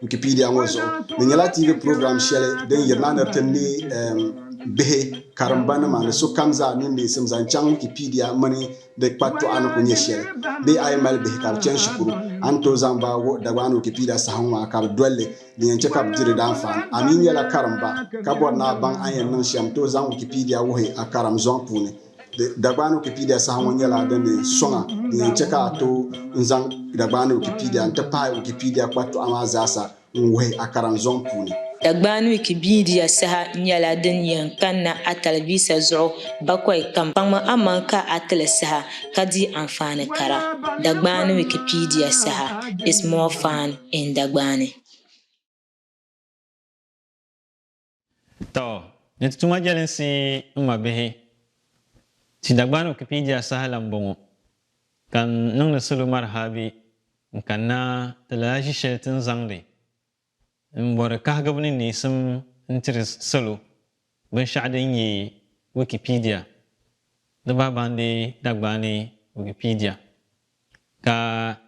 Wikipedia ŋɔ zuɣu di nyɛla TV program shɛli din yiri na ni ti ne bihi, karimba nima ni sokam zaa niŋ neesim zaŋ chaŋ Wikipedia mini di kpatɔɣa ni ku nyɛ shɛli. Bee a yi mali bihi ka bi chani shikuru, a ni tooi zaŋ ba wuhi Dagbaani Wikipedia saha ŋɔ a ka bi doli li, din yɛn chɛ ka bi di di daanfaani. A mi nyɛla karimba ka bɔri ni a baŋ a ni yɛn niŋ shɛm, tooi zaŋ Wikipedia wuhi a karim zɔŋ puuni. Dagbaani Wikipedia saha ŋɔ nyɛla din di suŋa din yɛn chɛ ka a tooi n zaŋ Dagbaani Wikipedia n-ti pahi Wikipedia kpatɔɣu maa zaa sa n-wuhi a karim zɔŋ puuni. Dagbaani Wikipedia saha nyɛla din yɛn kanna a talivisa zuɣu bakɔi kam. Kpaŋmi amaŋ ka a ti li saha ka di anfaani kara. Dagbaani Wikipedia saha is more fun in Dagbani. Tɔ! Ni ti tuma jɛlinsi n ma bihi. Ti Dagbani Wikipedia saha la m-bɔŋɔ, ka n niŋdi salo marhabi n kanna ti lala ʒi shɛli ti ni zaŋdi m bɔri kahigibu ni neesim n tiri salo binshɛɣu din nyɛ Wikipedia di bahi baŋdi Dagbani Wikipedia. Ka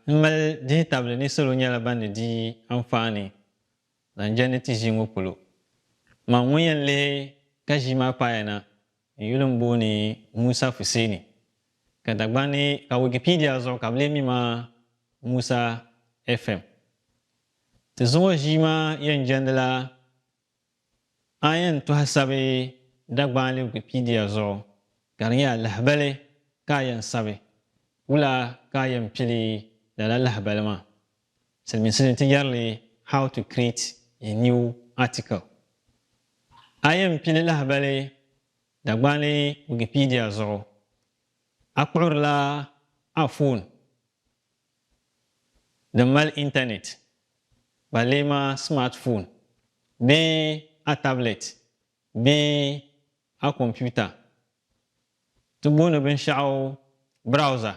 n mali dihitabili ni salo nyɛla ban ni di anfaani Nan je ni ti ʒii ŋɔ polo. Man ŋun yɛn lihi ka ʒii maa paaya na n-yuli m-booni Musa Fuseni, ka Dagban ni ka Wikipedia zuɣu ka bɛ lee mi ma Musa FM. Ti zuŋɔ ʒii maa yɛn jɛndila a ni yɛn tɔhi sabi Dagbanli Wikipedia zuɣu ka di nyɛ a lahibali ka a yɛn sabi. Wula ka a yɛn pili lala lahibali maa? Silimiinsi ni ti yɛrili How to create a new article. A yɛn pili lahibali Dagbaali Wikipedia zuɣu, a kpuɣirila a foon din mali intanet, ba lee maa smartphone bee a tablet bee a komputa. Ti booni binshɛɣu browser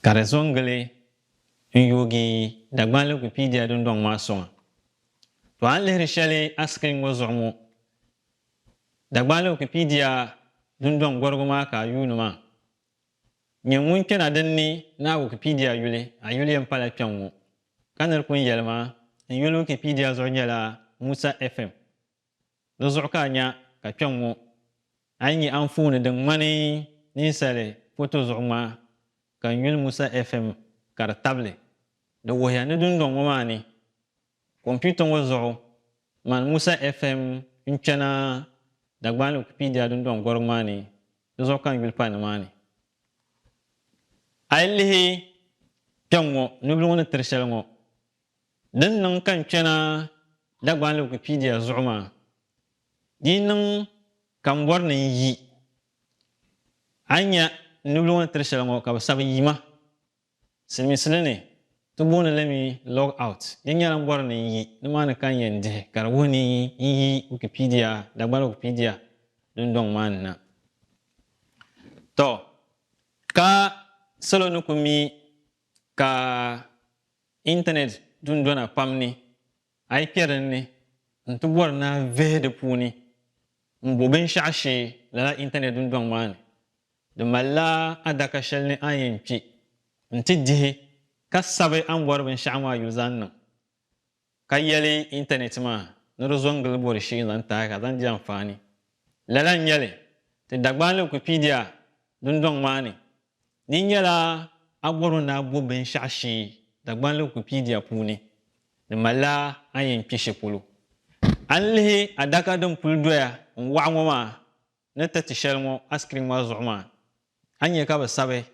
Ka di zo n-gili n yoogi Dagbani Wikipedia dundɔŋ maa sɔŋa. To a ni lihiri shɛli a sikirin ŋɔ zuɣu ŋɔ, Dagbani Wikipedia dundɔŋ gɔrigu maa ka a yuuni maa. Nyɛ ŋun kpɛna din ni ni a Wikipedia yuli, a yuli yɛn pala kpɛŋ ŋɔ. Ka nir pun yɛli ma, n yuli Wikipedia zuɣu nyɛla Musa FM. Di zuɣu ka a nya ka kpɛŋ ŋɔ a yi nya anfooni din ŋmani ninsali foto zuɣu ŋmaa ka n yuli Musa FM ka di tabili. Di wuhiya ni dundɔŋ ŋɔ maa ni kompiuta ŋɔ zuɣu mani Musa FM n-kpɛna Dagbani Wikipedia dundɔŋ gɔrigu maa ni, di zuɣu ka n yuli pa nimaani. A yi lihi kpɛŋ ŋɔ, nubila ŋɔ ni tiri shɛli ŋɔ, Din niŋ ka n kpɛna Dagbani Wikipedia zuɣu maa dii niŋ ka m bɔri ni n yi. A yi nya n nubili ŋɔ ni tiri shɛli ŋɔ ka bɛ sabi yima. Siliminsili ni ti booni li mi log out. Di nyɛla m bɔri ni n yi nimaani ka n yɛn dihi ka di wuhi ni n yi Wikipedia, Dagbani Wikipedia dundɔŋ maa ni na. Tɔ! Ka salo ni ku mi ka Intanet dundona pam ni, a yi kpe din ni n-ti bɔri ni a vihi di puuni m-bo binshɛɣu shee lala intanet dundɔŋ maa ni, di malila adaka shɛli ni a ni yɛn kpi n-ti dihi ka sabi a ni bɔri binshɛɣu maa yuli zaŋ niŋ, ka yɛli intanet maa ni di zo n-gili bɔri shee n-zaŋ taai ka zaŋ di anfaani. Lala n-nyɛ li ti Dagbani Wikipedia dundɔŋ maa ni Di nyɛla Agoro ni Agbo binshɛɣu shee Dagbanli Wikipedia puuni di malila a ni yɛn kpi shɛ polo. A ni lihi adaka din puli doya n-waɣa ŋɔ maa ni ti ti shɛli ŋɔ a sikirin maa zuɣu maa, a ni nya ka bɛ sabi,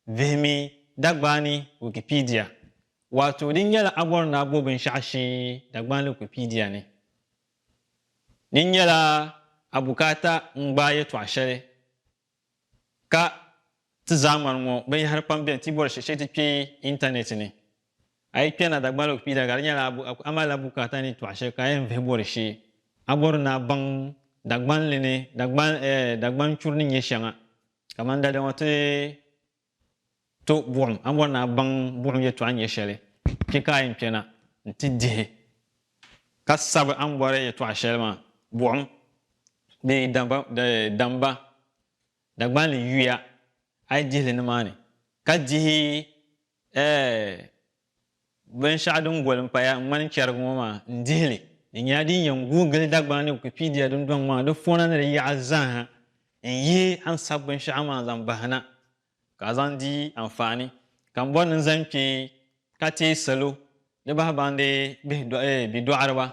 Vihimi Dagbani Wikipedia, waato di nyɛla Agoro ni Agbo binshɛɣu shee Dagbanli Wikipedia ni. Di nyɛla a bukaata n-gbaai yɛtɔɣ shɛli Ka ti zaa ŋmani ŋɔ binyɛhiri pam beni ti bɔri shɛli shee ti kpe intanɛti ni. A yi kpɛri na Dagbani Wikipedia ka di nyɛla a malila bukaata ni tɔɣi shɛli ka a yɛn vihi bɔri shee, a bɔri ni a baŋ Dagbanli ni Dagbani churi ni nyɛ shɛŋa. Kamani daliya ŋɔ ti To buɣim, a bɔri ni a baŋ buɣim yɛtɔɣa nyɛ shɛli, kpe ka a yɛn kpɛna nti dihi ka sabi a ni bɔri yɛtɔɣa shɛli maa. Buɣim di damba, Dagbanli yuya, a yi dihi li nimaani ka dihi ɛɛh. Binshɛɣu din goli m-paya n-ŋmani chɛriga ŋɔ maa n-dihi li. Di nyɛla din yɛn guui gili Dagbaŋ ni Wikipedia dundɔŋ maa di fɔna ni di yaɣa zaa ha n-yi a ni sabi binshɛɣu maa zaŋ bahi na ka a zaŋ di anfaani. Ka m bɔri ni n zaŋ kpe ka teei salo di bahi baŋdi bidɔɣiriba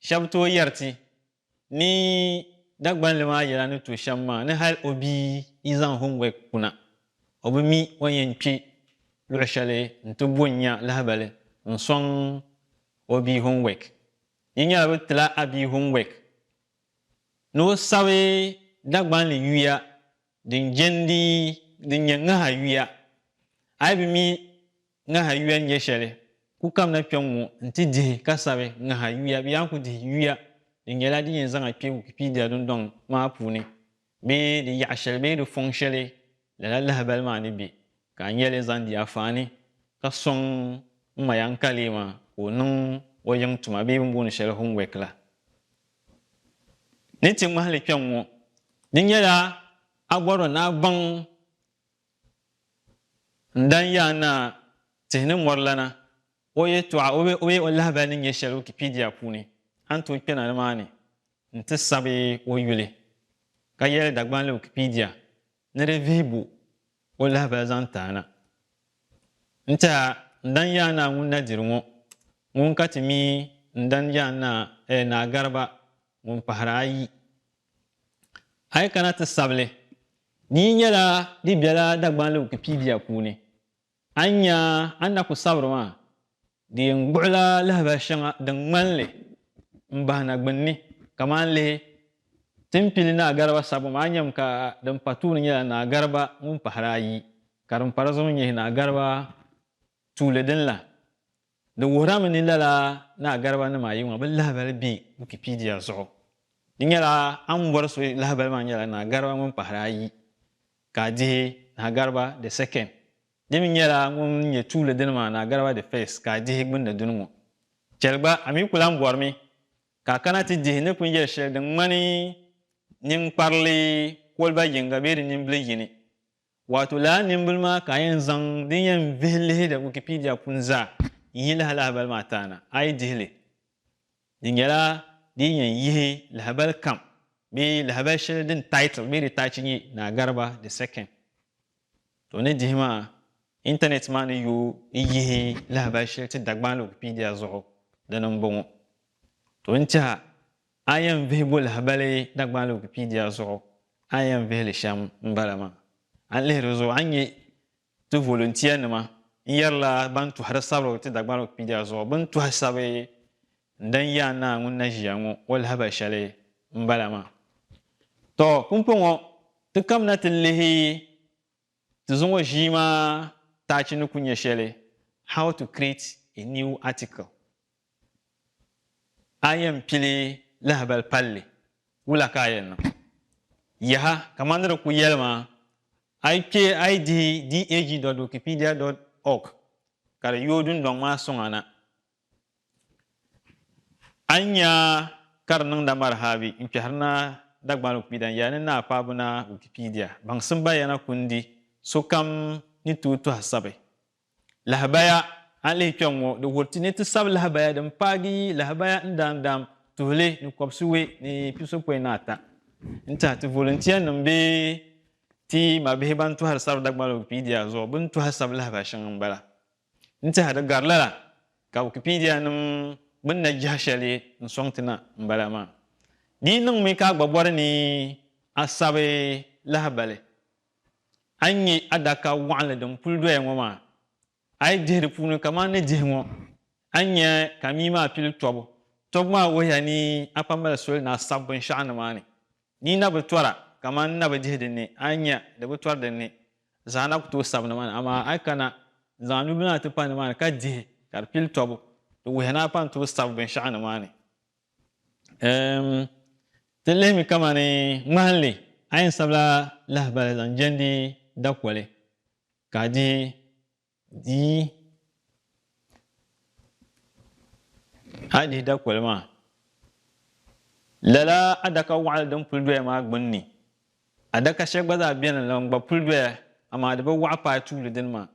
shɛba tooi yɛri ti. ni Dagbanli maa yɛla ni to shɛm maa ni hal o bia yi zaŋ homework kuna, o bi mi o ni yɛn kpe luɣ shɛli nti bo nya lahibali n-sɔŋ o bia homework. Yi nyɛla bɛ ti la a bia homework ni o sabi Dagbanli yuya Din jɛndi din nyɛ ŋaha yuya, a yi bi mi ŋaha yuya ni nyɛ shɛli, ku kamina kpɛŋŋo nti dihi ka sabi ŋaha yuya bee a ni ku dihi yuya din nyɛla din yɛn zaŋ a kpɛ Wikipedia dundɔŋ maa puuni bee di yaɣa shɛli bee di fɔŋ shɛli, lala lahibali maa ni bɛ ka a nya li zaŋ di afaani ka sɔŋ m ma Yankaleema ka o niŋ o yiŋ tuma bee bini booni shɛli homework la. Ni ti ŋmahili kpɛŋ ŋɔ, di nyɛla Agbɔrɔ naa gbaŋ n-dan Yaa Naa tihi ni mɔri lana o yɛtɔɣa bee o lahibali ni nyɛ shɛli Wikipedia puuni. A ni tooi kpɛna nimaani nti sabi o yuli ka yɛli Dagbanli Wikipedia, Ni di vihi bo o lahibal zaŋ ti a na. N-tɛh a, n dan Yaa Naa ŋun na diri ŋɔ, ŋun ka ti mi n dan Yaa Naa, ɛɛ Naa Gariba ŋun pahiri ayi. A yi kana ti sabili, di yi nyɛla di bela Dagbanli Wikipedia puuni. A ni nya a ni na ku sabiri maa, di yɛn gbuɣila lahabali shɛŋa din ŋmani li m-bahi na gbunni. Kamani lihi, Timpili Naa Gariba sabbu maa nyami ka din pa tuuli nyɛla Naa Gariba ŋun pahiri ayi, ka din pa di zuɣu nyɛ Naa Gariba tuuli din la. Di wuhirami ni lala Naa Gariba nim ayi ŋɔ bi lahibali bɛ Wikipedia zuɣu. Di nyɛla a ni bɔri so lahibali maa nyɛla Naa Gariba ŋun pahiri ayi ka a dihi Naa Gariba the second. Di mi nyɛla ŋun nyɛ tuuli dini maa Naa Gariba the first ka a dihi gbunni duni ŋɔ. Chɛli gba a mi ku lan bɔrimi ka a kana ti dihi ni kunyɛl shɛli din ŋmani ninkparili koliba yiŋga bee di nimbili yini. Waato lala nimbili maa ka a yɛn zaŋ din yɛn vihi lihiri Wikipedia puni zaa n-yi lahi lahabali maa taana, a yi dihi li, di nyɛla di yi yɛn yihi lahabali kam bee lahabali shɛli din title bee di taachi nyɛ Naa Gariba the Second. To ni dihi maa, Intanɛt maa ni yooi n yihi lahabali shɛli ti Dagbani Wikipedia zuɣu, dini m-bɔŋɔ. To ni tɛha A yɛn vihigu lahibali Dagbani Wikipedia zuɣu a yɛn vihi li shɛm m-bala maa. A ni lihi di zuɣu a ni nya ti volunteer nima n-yɛrila ban tɔhiri sabirigu ti Dagbani Wikipedia zuɣu bɛ ni tɔhi sabi n-dan Yaa Naa ŋun na ʒiya ŋɔ o lahibali shɛli m-bala maa. Tɔ! Pumpɔŋɔ ti kamina ti lihi Ti zuŋɔ ʒii maa taachi ni ku nyɛ shɛli How to Create a New Article. A yɛn pili lahibali palli, wula ka a yɛn niŋ? Yaha! Kaman di ni ku yɛli maa, a yi kpe a yi dihi dag dot wikipedia dot org ka di yooi dundɔŋ maa sɔŋ a na, A ni nya ka di niŋda Marhabi n-kpɛhiri naa Dagbani Ukpida n-yɛli ni naa kpaabu naa Wikipedia, Baŋsim Bayana Kundi Sokam ni tooi tɔhi sabi lahabaya A ni lihi kpɛŋŋo, di wuhiri ti ni ti sabi lahabaya din paagi yi lahabaya n daan daam tuhili ni kɔbisiwe ni pisopɔin ni ata n-tɛhi ti voluntiyanima bee ti mabihi ban tɔhiri sabi Dagbani Wikipedia zuɣu bɛ ni tɔhi sabi lahabaya shɛŋa m-bala. N teha di gari lala ka Wikipedia nim gbuni na jiha shɛli n sɔŋ ti na n bala maa. Di yi niŋ mi ka a gba bɔri ni a sabi lahibali, a yi nya adaka wɔɣinli din puli doya ŋɔ maa, a yi dihi di puuni kaman ni dihi ŋɔ, a ni nya ka mii maa pili tɔbu. Tɔbu maa wuhiya ni a kpambali soli ni a sabi binshɛɣu nimaani. Di na bi tɔra, kaman n na bi dihi din ni, a ni nya, di bi tɔri din ni. Zaa na ku tooi sabi nimaani, amaa a yi kana, n zaŋ a nubila maa ti pa nimaani ka dihi, ka di pili tɔbu, di wuhiya ni a pa ni tooi sabi binshɛɣu nimaani. Eem, ti lihi mi kaman ŋmahinli, a yɛn sabila lahabali zaŋ jɛndi dakoli, ka a dihi Dii, A dihi dakoli maa, lala adaka waɣili din puli doya maa gbunni, adaka shɛli gba zaa beni la n-gba puli doya amaa di bi waɣa paai tuuli dini maa,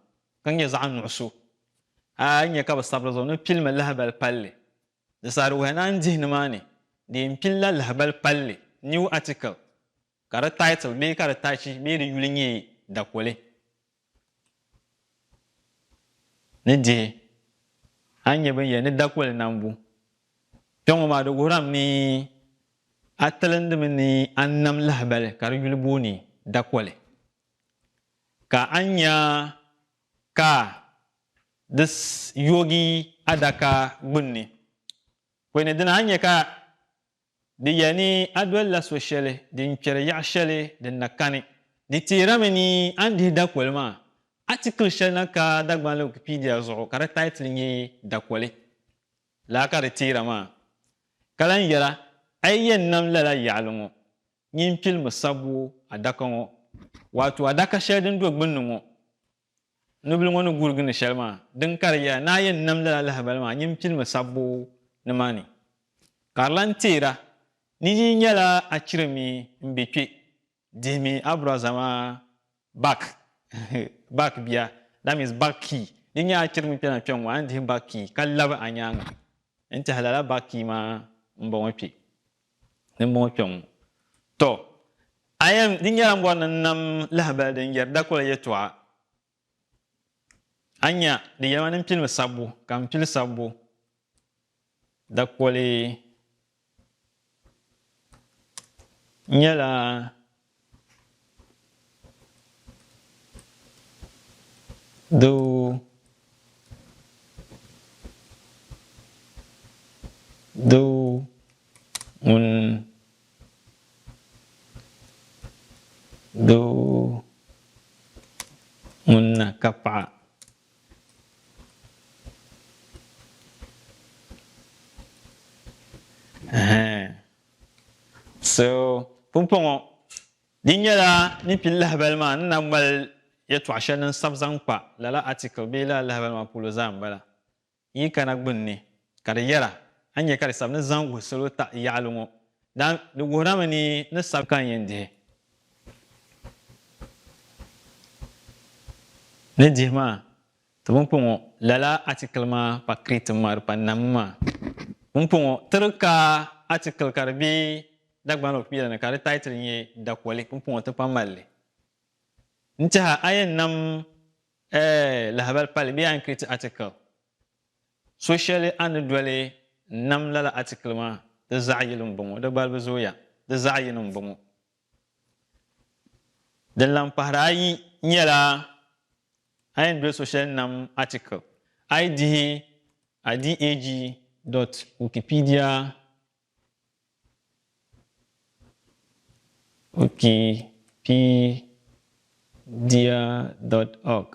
ka nyɛ zaɣ nuɣiso. A yi nya ka bɛ sabi di zuɣu ni pilimi lahibal palli, di saha di wuhiya ni a ni dihi nimaani di yɛn pilila lahibal palli, new article. Ka di title bee ka di tachi bee di yuli nyɛ dakoli ni dihi a ni nyɛ binyɛri ni dakoli nambu. Kpe ŋɔ maa di wuhiri a mi ni a tilindi mi ni a ni nam lahibali ka di yuli booni dakoli. Ka a ni nya ka di yoogi adaka gbunni. Kpe ni dini a ni nya ka Di yɛli ni a dolila so shɛli din kpɛri yaɣ shɛli din na kani. Di teerimi ni a ni dihi dakoli maa, atikili shɛli na ka Dagbanli Wikipedia zuɣu ka di taitili nyɛ Dakoli laa ka di teera maa, ka lan yɛra, A yi yɛn nam lala yaɣili ŋɔ, nyin pilimi sabbu adaka ŋɔ, waato adaka shɛli din do gbunni ŋɔ. Nubila ŋɔ ni gurigi ni shɛli maa, din karigiya ni a yɛn nam lala lahibali maa nyin pilimi sabbu nimaani. Ka di lan teer a ni yi yi nyɛla a chirimi m-be kpe dihimi a biraza maa bak, bak bia, that means bak key. Di nyɛla a chirimi kpɛna kpɛŋ ŋɔ a ni dihi bak key ka labi a nyaaŋa n-tɛhi lala bak key maa m-bɔŋɔ kpe. Dimbɔŋɔ kpɛŋ ŋɔ, tɔ! A yɛn, di nyɛla m bɔri ni n nam lahibali din yɛri dakɔla yɛtɔɣa. A nya, di yɛli ma ni m pili mi sabbu, ka m pili sabbu dakɔli nyɛla. Doo Doo ŋun Doo ŋun na ka paɣa ɛhɛn So, pumpɔŋɔ di nyɛla ni kpi lahabali maa ni na mali yɛtɔɣ shɛli din sabi zaŋ kpa lala atikil bee lala lahabali maa puuli zaa m-bala. Yi kana gbunni, ka di yɛra, a ni nya ka di sabi ni zaŋ wuhi salo taɣi yaɣili ŋɔ, daan di wuhirami ni ni sabi ka n yɛn dihi. Ni dihi maa. Ti pumpɔŋɔ, lala atikili maa pa Crete ŋmari pa nam maa pumpɔŋɔ. Tiri ka atikili ka di be Dagban lɔɣu kpiila ni ka di taitili nyɛ Dakoli pumpɔŋɔ ti pa mali li. N tɛha a yɛn nam eh lahabali pali bee a ni create article so shɛli a ni doli n nam lala atikili maa di zaɣi yili m-bɔŋɔ di gbalibu zooya di zaɣi yini m-bɔŋɔ. Din lan kpahiri ayi nyɛla a yɛn doli so shɛli nam article, a yi dihi a DAG dot Wikipedia Wikipedia dot org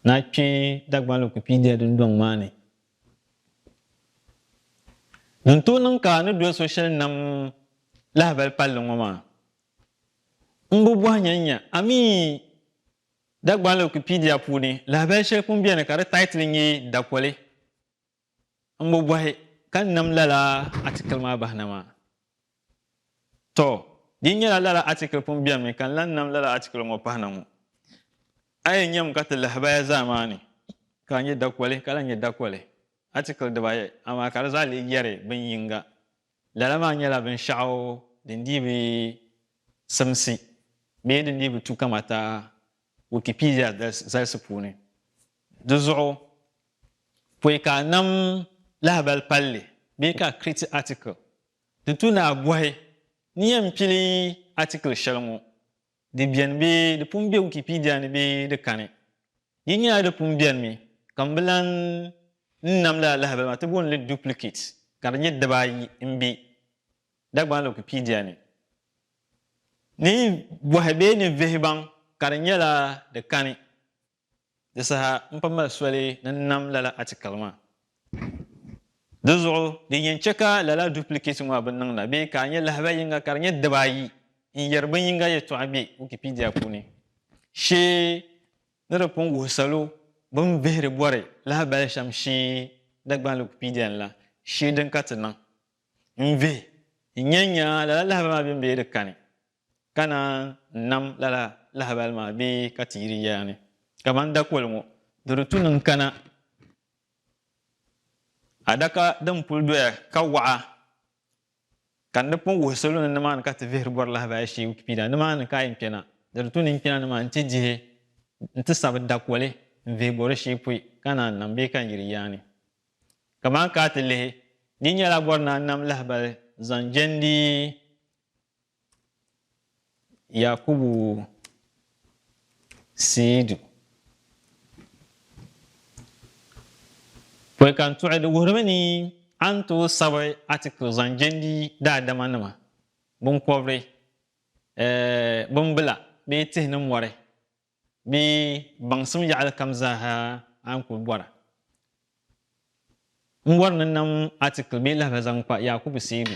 na kpe Dagbani Wikipedia dundɔŋ maa ni Di ni tooi niŋ ka a ni doli so shɛli nam lahibali palli ŋɔ maa, m bi bɔhi nya n-nya, a mi yi Dagbani Wikipedia puuni lahibali shɛli pun beni ka di taitili nyɛ Dakoli, m bi bɔhi ka n nam lala atikili maa bahi na maa. Tɔ! Di nyɛla lala atikili pun beni mi ka n lan nam lala atikili ŋɔ pahi na ŋɔ. A yi nyam ka ti lahibaya zaa maa ni, ka a nyɛ dakoli ka lan nyɛ dakoli, atikili dibaayi, amaa ka di zaa lee yɛri bin yiŋga. Lala maa nyɛla binshɛɣu din dii bi simsi bee din dii bi tu kamata Wikipedia zalisi puuni. Di zuɣu pɔi ka a nam lahibal palli bee ka a create article. Di tu ni a bɔhi ni yɛn pili atikili shɛli ŋɔ, di beni bee di pun be Wikipedia ni bee di kani. Di nyɛla di pun benimi ka m bi lan n nam lala lahabali maa ti booni li duplicate ka di nyɛ diba ayi m-be Dagbani Wikipedia ni. Ni bɔhi bee ni vihibaŋ ka di nyɛla di kani. Di saha n kpa mali soli ni n nam lala atikili maa. Dizuɣu din yɛn chɛ ka lala duplikɛti ŋɔ bi niŋ la bee ka a nyɛ lahabali yiŋga ka di nyɛ diba ayi n yɛri bin yiŋga yɛtɔɣa bɛ Wikipedia puuni shee ni di pun wuhi salo bin vihiri bɔri lahabali shɛm shee Dagbanli Wikipedia ni la shee din ka ti niŋ n vihi n nyɛ n nya lala lahabali maa bɛn bɛ di kani. ka naan nam lala lahabali maa bee ka ti yiri yɛya ni, kaman dakol ŋɔ, di di tu niŋ kana adaka din pul doya ka waɣa, ka n di pun wuhi salo ni nimaani ka ti vihiri bɔri lahabaya shee Wikipedia, Nimaani ka a yi kpɛna, di di tu ni n kpɛna nimaani nti dihi, nti sabi dakoli n-vihi bɔri shee pɔi ka naan nam bee ka n yiri yɛya ni. Kaman ka a ti lihi, di nyɛla bɔri naan nam lahabali zaŋ jɛndi Yakubu Siidu. Pɔi ka n tuɣi di wuhirimi ni a ni tooi sabi atikili zaŋ jɛndi daadamanima, binkɔbiri, bimbila bee tihi ni mɔri Bɛ baŋsim yaɣili kam zaaha a ni kul bɔra. M bɔri ni nam atikili bee lahibali zaŋ kpa Yakubu Seidu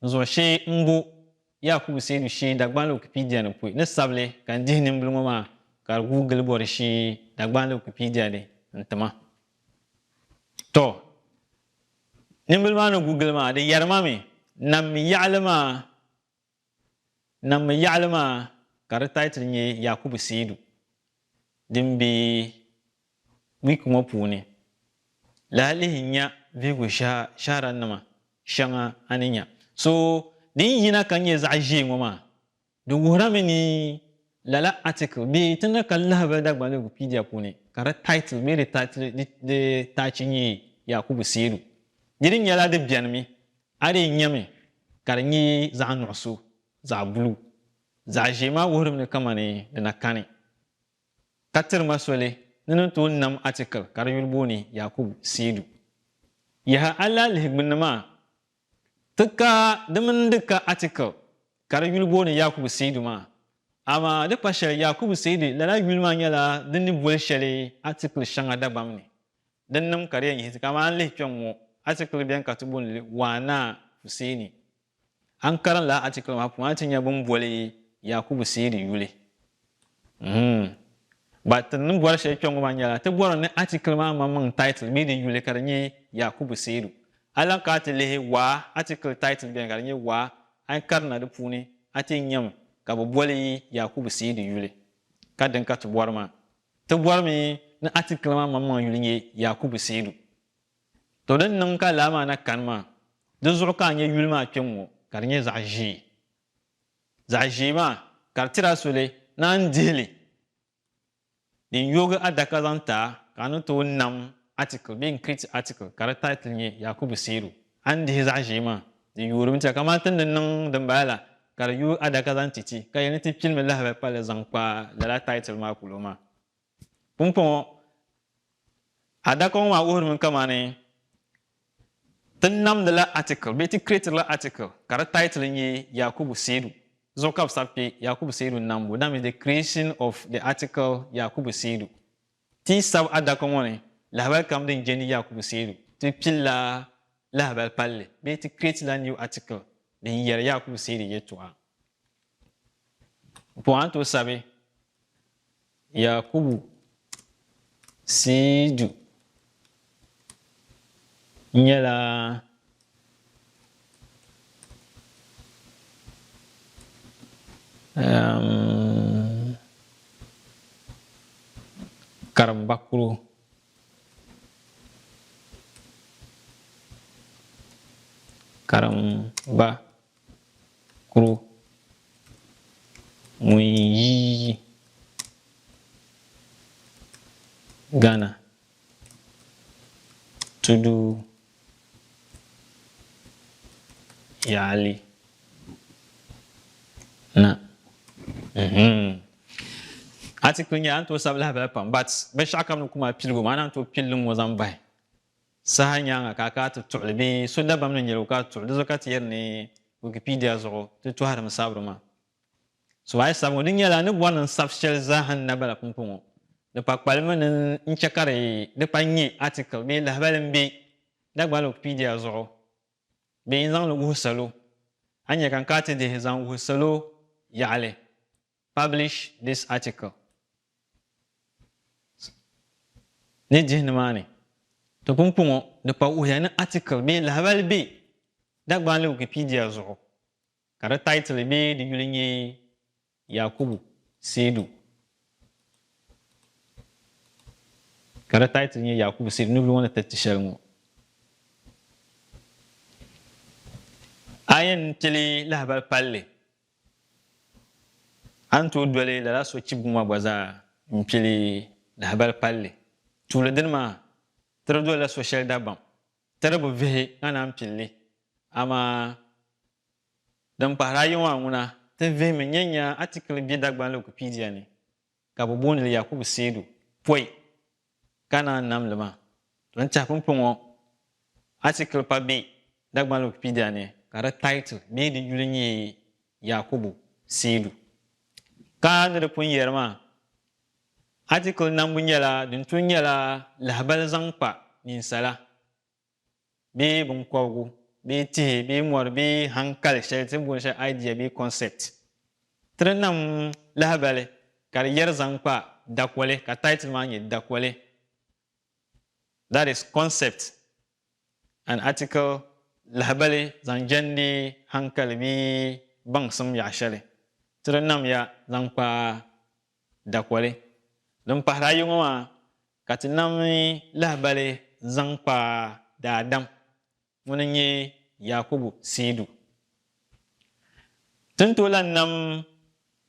zuɣu shee m-bo Yakubu Seidu shee Dagbani Wikipedia ni pɔi ni sabili ka n dihi nimbili ŋɔ maa ka di guui gili bɔri shee Dagbani Wikipedia ni n-ti ma. Tɔ! Nimbili maa ni gu gili maa di yɛri ma mi, nam mi yaɣili maa. Naŋmi yaɣili maa ka di title nyɛ Yakubu Seidu din be week ŋɔ puuni. Lahi lihi nya vihigu shahara nima shɛŋa a ni nya. So din yina ka nyɛ zaɣi ʒee ŋɔ maa, di wuhira mi ni lala article be ti ni ka lahabali Dagbani Wikipedia puuni ka di title bee di taachi nyɛ Yakubu Seidu. Diri nyɛla di beni mi A dii nyami ka di nyɛ zaɣ nuɣiso, zaɣ buluu. Zaɣ ʒee maa wuhiri mi kamani di na kani. Ka tiri ma soli ni ni tooi nam atikili ka di yuli booni Yakubu Siidu. Yaha a lahi lihi gbunni maa, ti ka di mini n di ka atikili ka di yuli booni Yakubu Siidu maa. Amaa di kpa shɛli Yakubu Siidu lala yuli maa nyɛla din ni boli shɛli atikili shɛŋa Dagbam ni. din niŋm ka di yɛn yiɣisi. Ka amaa a ni lihi kpɛŋŋo atikili bɛni ka ti booni li Waana Huseeni. A ni karim lala atikili maa puuni a ni ti nya bɛ ni boli Yakubu Seedi yuli. Uhmm. Ba ti ni bori shɛli kpɛŋŋo maa nyɛla ti bori ni atikili maa maŋmaŋ title bee di yuli ka di nyɛ Yakubu Seedu. A ni lahi kana ti lihi Waa atikili title bɛni ka di nyɛ Waa. A ni karina di puuni a ti nyami ka bɛ boli Yakubu Seedi yuli. Ka din ka ti bori maa. Ti bɔrimi ni atikili maa maŋmaŋ yuli nyɛ Yakubu Seidu. Tɔ din niŋ ka laa maa na kani maa, di zuɣu ka a nya yuli maa kpɛm ŋɔ ka di nyɛ zaɣ ʒee. Zaɣ ʒee maa ka di tiri a soli ni a ni dihi li din yoogi adaka zaŋ ti a ka a ni tooi nam atikili bee n-create atikili ka di title nyɛ Yakubu Seidu. A ni dihi zaɣ ʒee maa, di yuurimi ti a, kaman ti ni niŋ dimbala la, ka di yuui adaka zaŋ ti ti, ka yɛli ni ti pilimi lahabali pa li zaŋ kpa lala taitil maa polo maa. Pumpɔŋɔ, adaka ŋɔ maa wuhirimi kamani ti namdila atikil bee ti kireetirila atikil ka di taitil nyɛ Yakubu Seidu zuɣu ka bɛ sabi kpe, Yakubu Seidu Nambu, that means the creation of the article Yakubu Seidu. Ti yi sabi adaka ŋɔ ni lahabali kam din je ni Yakubu seedu, ti pilila lahabali palli bee ti kireetila new article din yɛri Yakubu seedu yɛltɔɣa. Di puuni a ni tooi sabi Yakubu seedu nyɛla um, karimba kuro karimba kuro ŋun yi Ghana Tudu yaali na. Mhm. Article nyɛla n tooi sabi lahabali pam but binshɛɣu kam ni ku mali piligu maa na n tooi pili li ŋɔ zaŋ bahi saha nyaaŋa ka a kana ti tuɣi li bee so dabam ni nyɛl o ka a tuɣi li. Di zuɣu ka ti yɛri ni Wikipedia zuɣu ti tɔhirimi sabiri maa. So a yi sab ŋɔ, di nyɛla a ni bɔri ni n sab shɛli zaaha n na bala pumpɔŋɔ. Di pa kpalimi ni n chɛ ka di pa n-nyɛ atikil bee lahibali m-be Dagbani Wikipedia zuɣu bee n-zaŋ li wuhi salo. A nyɛ ka n ka ti dihi zaŋ wuhi salo yaɣili Publish this article ni dihi nimaani. To pumpɔŋɔ, di pa wuhiya ni atikil bee lahibali be Dagbani Wikipedia zuɣu Ka di title bee di yuli nyɛ Yakubu Seidu. Ka di title nyɛ Yakubu Seidu ni luŋ ni tiriti shɛli ŋɔ. A yɛn kpeli lahabali palli, a ni tooi doli lala sochibigu ŋɔ gba zaa n kpeli lahabali palli. Tuuli dini maa, tiri dolila soshɛli dabam Tirigu vihi ka naan pili li, amaa din kpahiri ayi ŋɔ a ŋuna ti vihimi n-nyɛ nya atikili be Dagbaŋli Wikipedia ni ka bɛ booni li Yakubu Seidu pɔi ka naan nam li maa. Din tɛhi pumpɔŋɔ atikili pa be Dagbaŋli Wikipedia ni ka di title bee di yuli nyɛ Yakubu Seidu. Ka ni di pun yɛri maa, Atikili nambu nyɛla din tun nyɛla lahibali zaŋ kpa ninsala bee binkɔbigu bee tihi bee mɔri bee hankali shɛli ti ni booni shɛli idea bee concept. Ti ni nam lahibali ka di yɛri zaŋ kpa dakoli ka title maa nyɛ dakoli that is concept An article Lahibali zaŋ jɛndi hankali bee baŋsim yaɣ shɛli ti di nam ya zaŋ kpa dakoli. Din pahiri ayi ŋɔ maa ka ti nam lahibali zaŋ kpa daadam ŋuni n-nyɛ Yakubu Seidu. Ti ni tooi lan nam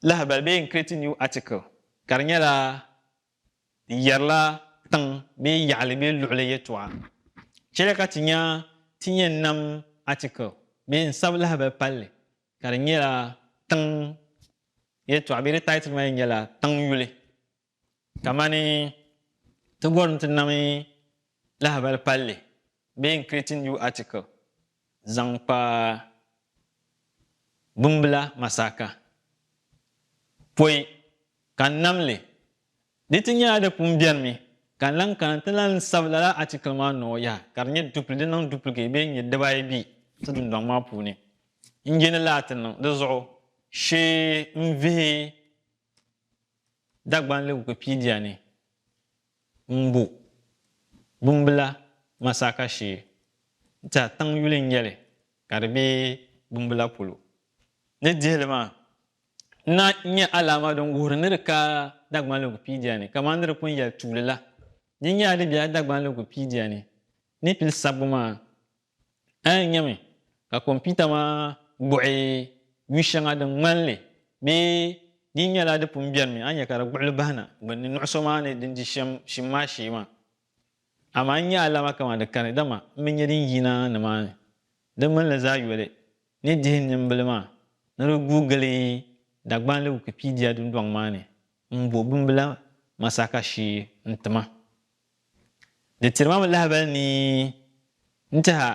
lahibali bee n-create new article ka di nyɛla yɛrila tiŋ bee yaɣili bee luɣili yɛtɔɣa. Chɛliya ka ti nya ti yɛn nam article bee n sabi lahabali palli ka di nyɛla tiŋ yɛtɔɣa bee di title maa yɛn nyɛla tiŋ yuli. Kamani ti bɔri ni ti nami lahabali palli bee n create new article zaŋ kpa bimbila masaaka pɔi ka n nam li di ti nyɛla di pun beni mi ka n lan kana n ti lan sabi lala article maa nɔɔ yaha ka di nyɛ dupli di niŋ duplicate bee n nyɛ dibaayi be ti dundɔŋ maa puuni n je ni laa ti niŋ di zuɣu shee n vihi Dagbanli Wikipedia ni Mbu, Bumbila, Masaka shee n-tiɛha tiŋ yuli n-nyɛ li ka di be Bumbila polo. Di dihili maa na n-nyɛ alaama din wuhiri ni di ka Dagbanli Wikipedia ni kamani di di pun yɛli tuuli la. Di nyɛla di bela Dagbanli Wikipedia ni ni pili sabbu maa A ni nyami ka kompiuta maa gbuɣi yu shɛŋa din ŋmani li bee di yi nyɛla di pun bɛrimi, a ni nya ka di gbuɣi li bahi na gbunni nuɣiso maa ni din di shɛm shim maa shee maa. Amaa n nya alama kaman di kani, dama m bi nya din yina nimaani. Di mini li zaa yoli ni dihi nimbila maa ni di guui gili Dagbanli Wikipedia dundɔŋ maa ni m-bo bimbila masaka shee n-ti ma. Di tiri ma mi lahabali ni n tɛha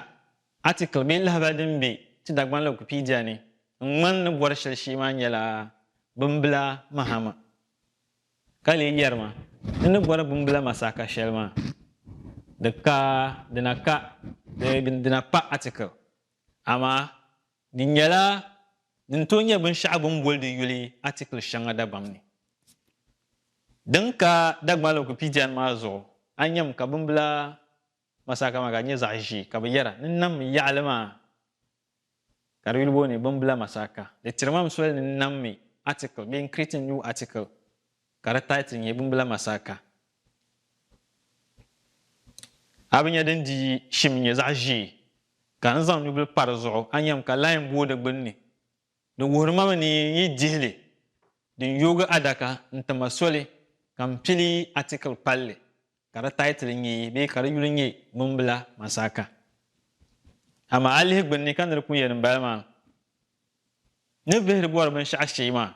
atikili bee lahabali din be ti Dagbani Lɔgupiidia ni n ŋmani ni bɔri shɛli shee maa nyɛla bimbila mahama ka lee yɛri ma ni ni bɔri bimbila masaaka shɛli maa di ka di na ka bee di na pa atikili amaa Di nyɛla din tooi nyɛ binshɛɣu bɛ ni boli di yuli atikili shɛŋa dabam ni. Din ka Dagbani Wikipedia ni maa zuɣu, a nyami ka bimbila masaka maa ka di nyɛ zaɣ ʒee ka bɛ yɛra ni nam mi yaɣili maa ka di yuli booni bimbila masaka. Di tiri ma m soli ni n nam mi atikili bee n create a new article. ka di taiti nyɛ bimbila masaaka. A bi nya din di yi shim nyɛ zaɣ ʒee, ka n zaŋ nubila pa di zuɣu, a nyami ka lahi booi di gbinni. Di wuhiri ma mi ni n yi dihi li, din yoogi adaka n-ti ma soli ka m pili yi atikili palli ka di taitili nyɛ bee ka di yuli nyɛ bimbila masaaka. Amaa a lihi gbinni ka ni di ku yɛn m bala maa, ni vihiri bɔri binshɛɣu shee maa.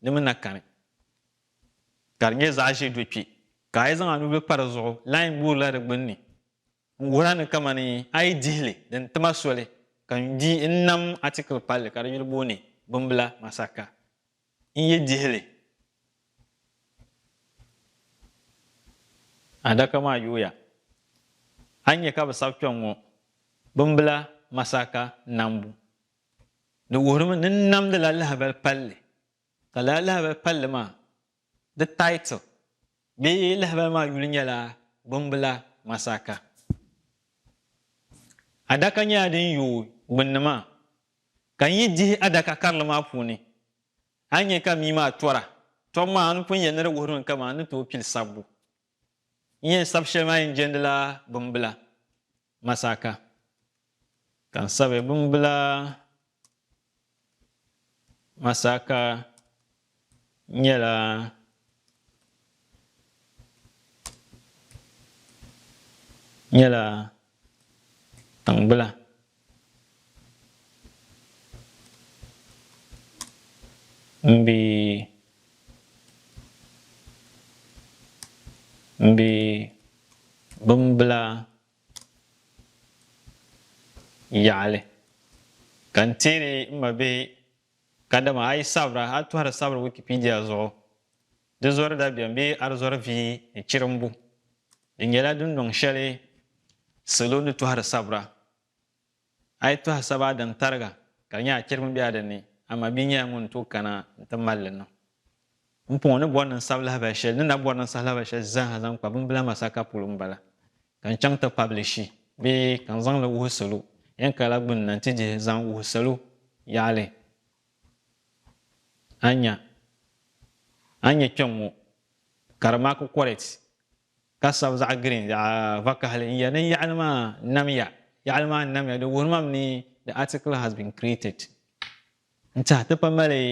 di mi na kani ka di nyɛ zaɣ ʒiɛ do kpɛ ka a yi zaŋ a nubil pa di zuɣu lahi ŋuurila di gbunni n-wuhira ni kamani a yi dihi li din ti ma soli ka n di n-nam atikili palli ka di yuli booni Bimbila Masaka. N yi dihi li adaka maa yooya a ni nya ka bɛ sabi kpɛŋŋo Bimbila Masaka Nambu Di wuhirimi ni n namdila lahabali palli, ka lala lahabali palli maa, di title bee lahabali maa yuli nyɛla Gbumbila Masaka. Adaka nyɛla din yooi gbunni maa, ka n yi dihi adaka karili maa puuni, a ni nya ka mii maa tɔra. Tɔbu maa a ni pun yɛli ni di wuhirimi kaman n ni tooi pili sabbu. N yɛn sabi shɛli maa yɛn jɛndila bimbila Masaka ka n sabi bimbila Masaka nyɛla nyɛla Tiŋgbila m-be m-be bimbila yaɣili ka n-teeri m mabihi kadama a yi sabira a yi tɔhiri sabiri Wikipedia zuɣu Di zɔri dabiɛm bee arizɔri vii ni chirimbu. Di nyɛla dundɔŋ shɛli salo ni tɔhiri sabira. A yi tɔhi saba a daŋ tariga ka di nyɛ a chirimi be a di ni, a mabia nyɛla ŋun ni tooi kana n-ti mali li niŋ. M pɔŋɔ ni bɔri ni n sabi lahabali shɛli, ni na bɔri ni n sahi lahabali shɛli zaaha zaŋ kpa bimbila masaka polo m-bala. Ka n chaŋ ti pabilishi bee ka n zaŋ li wuhi salo yɛn kaya la gbinni na nti dihi zaŋ wuhi salo yaɣili. A nya, a nya kpɛŋŋo ka di maa ku kɔrɛt ka sabi zaɣ giriin, zaɣ vakahili n-yɛli ni yaɣili maa namya, yaɣili maa namya, di wuhiri ma mi ni the article has been created n-tiɛhi ti pa mali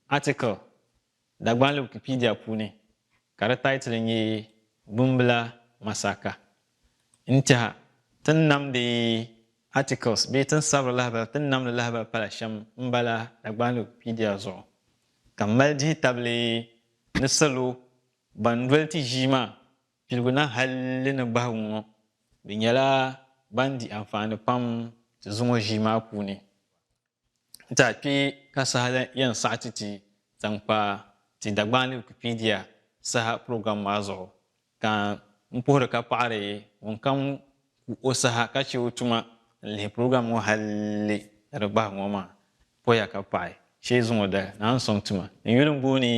article Dagbani Wikipedia puuni ka di taitili nyɛ Bumbila Masaka. N tɛha, ti ni namdi articles bee ti ni sabiri lahabali, ti ni namdi lahabali pala shɛm m-bala Dagbani Wikipedia zuɣu, ka m mali dihi tabili ni salo ban doli ti ʒii maa piligu na hali ni gbahigu ŋɔ, bɛ nyɛla ban di anfaani pam ti zuŋɔ ʒii maa puuni. Nti a kpee ka saha la yɛn saɣi ti ti zaŋ kpa ti Dagbani Wikipedia saha program maa zuɣu, ka n puhiri ka paɣiri ŋunkam ku o saha ka chɛ o tuma n-lihi program ŋɔ hali ka di gbahi ŋɔ maa poya ka paɣi shee zuŋɔ dali naan sɔŋ tuma. N yuli m-booni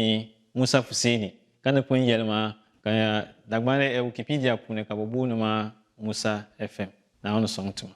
Musa Fuseeni ka ni pun yɛli ma ka Dagbani Wikipedia puuni ka bɛ booni ma Musa FM. Naawuni sɔŋ tuma.